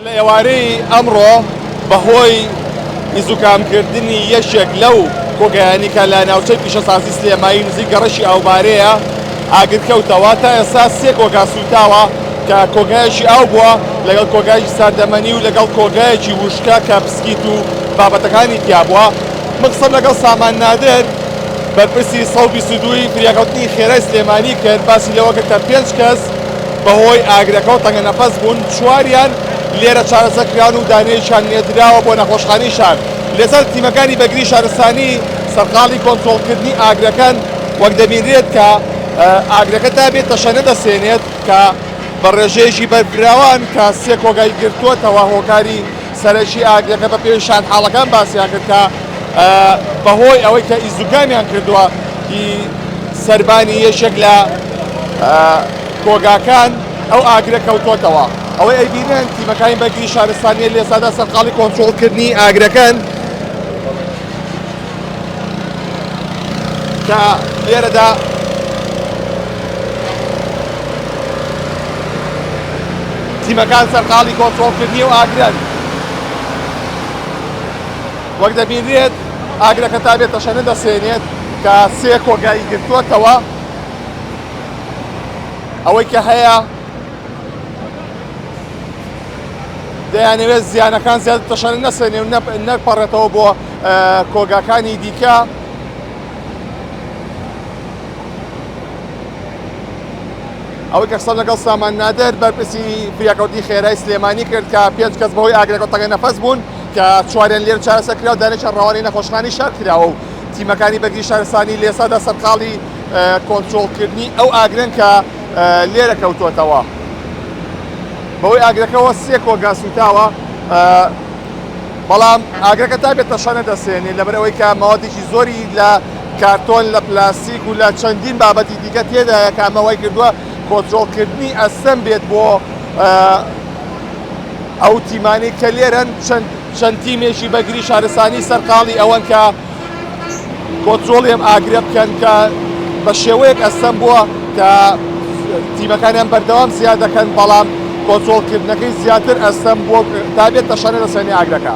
لە ئێوارەی ئەمڕۆ بەهۆی دزوکامکردنی یەکێک لەو کۆگایانی کە لە ناوچەی پیشەسازی سلێمایی نزیک گەڕەکی ئاوبارێیە ئاگرکەوتەوە، تا ئێستا سێ کۆگا سووتاوە کە کۆگایەکی ئاو بووە لەگەڵ کۆگایەکی ساردەمەنی و لەگەڵ کۆگایەکی وشکە کە بسکیت و بابەتەکانی تیابووە. من قسەم لەگەڵ سامان نادر بەرپرسی سەد و بیست و دوو ی فریاکەوتنی خێرای سلێمانی کرد، باسی لەوە کرد کە پێنج کەس بەهۆی ئاگرەکەوە تەنگەنەفەس بوون، چواریان لێرە چارەسەر کران و دانەیەکیان نێردراوە بۆ نەخۆشخانەی شار. لەسەر تیمەکانی بەرگری شارستانی سەرقاڵی کۆنترۆڵکردنی ئاگرەکەن، وەک دەبینرێت کە ئاگرەکە تا بێت تەشەنە دەسێنێت کە بە ڕێژەیەکی بەرفراوان کە سێ کۆگای گرتووەتەوە هۆکاری سەرەکی ئاگرەکە بە پێی شاندحاڵەکان باسیان کرد کە بە هۆی ئەوەی کە ئیزدوگامیان کردووە ی سەربانی یەکێک لە کۆگاکان ئەو ئاگرە کەوتۆتەوە ئەوەی ئەیبینن تیمەکانی بەرگری شارستانیە لێسادا سەرقاڵی کۆنترۆڵ کردنی ئاگرەکەن. کە لێرەدا تیمەکان سەرقاڵی کۆنترۆڵکردنی و ئاگرن وەک دەبینرێت ئاگرەکە تا بێت تەشەنە دەسێنێت کە سێ کۆگایی گرتووەتەوە ئەوەی کە هەیە دەیانەوێت زیانەکان زیاتر تەشەنە نەسەنێ و نەپەڕێتەوە بۆ کۆگاکانی دیکە. ئەوەی کە قسەم لەگەڵ سامان نادر بەرپرسی فریاکەوتنی خێرای سلێمانی کرد کە پێنج کەس بەهۆی ئاگرەکە تەگە نەفەس بوون کە چواریان لێر چارەسە کرا و دانێکیان ڕەوانەی نەخۆشخانی شار کراوە و تیمەکانی بەرگری شارستانی لێسادا سەرقاڵی کۆنترۆڵکردنی ئەو ئاگرن کە لێرە کەوتۆتەوە بەوەی ئاگرەکەەوە سێ کۆگا سوتاوە بەڵام ئاگرەکە تا بێت تەشەنە دەسێنێت لەبەرەوەی کە ماوەتێکی زۆری لە کارتۆن لە پلاستیک و لە چەندین بابەتی دیکە تێدایە کامەوەی کردووە کۆنتترۆلکردنی ئەسەم بێت بۆ ئەو تیمانی کە لێرەن چەند تیمێکی بەگری شارستانی سەرقاڵی ئەوەن کە کۆنترۆڵی ئەم ئاگرە بکەن کە بە شێوەیەک ئەستەم بووە کە تیمەکانیان بەردەوام زیاد دەکەن بەڵام کۆنترۆڵکردنەکەی زیاتر ئەستەم بووە تا بێت بە شانە دەسێنی ئاگرەکە.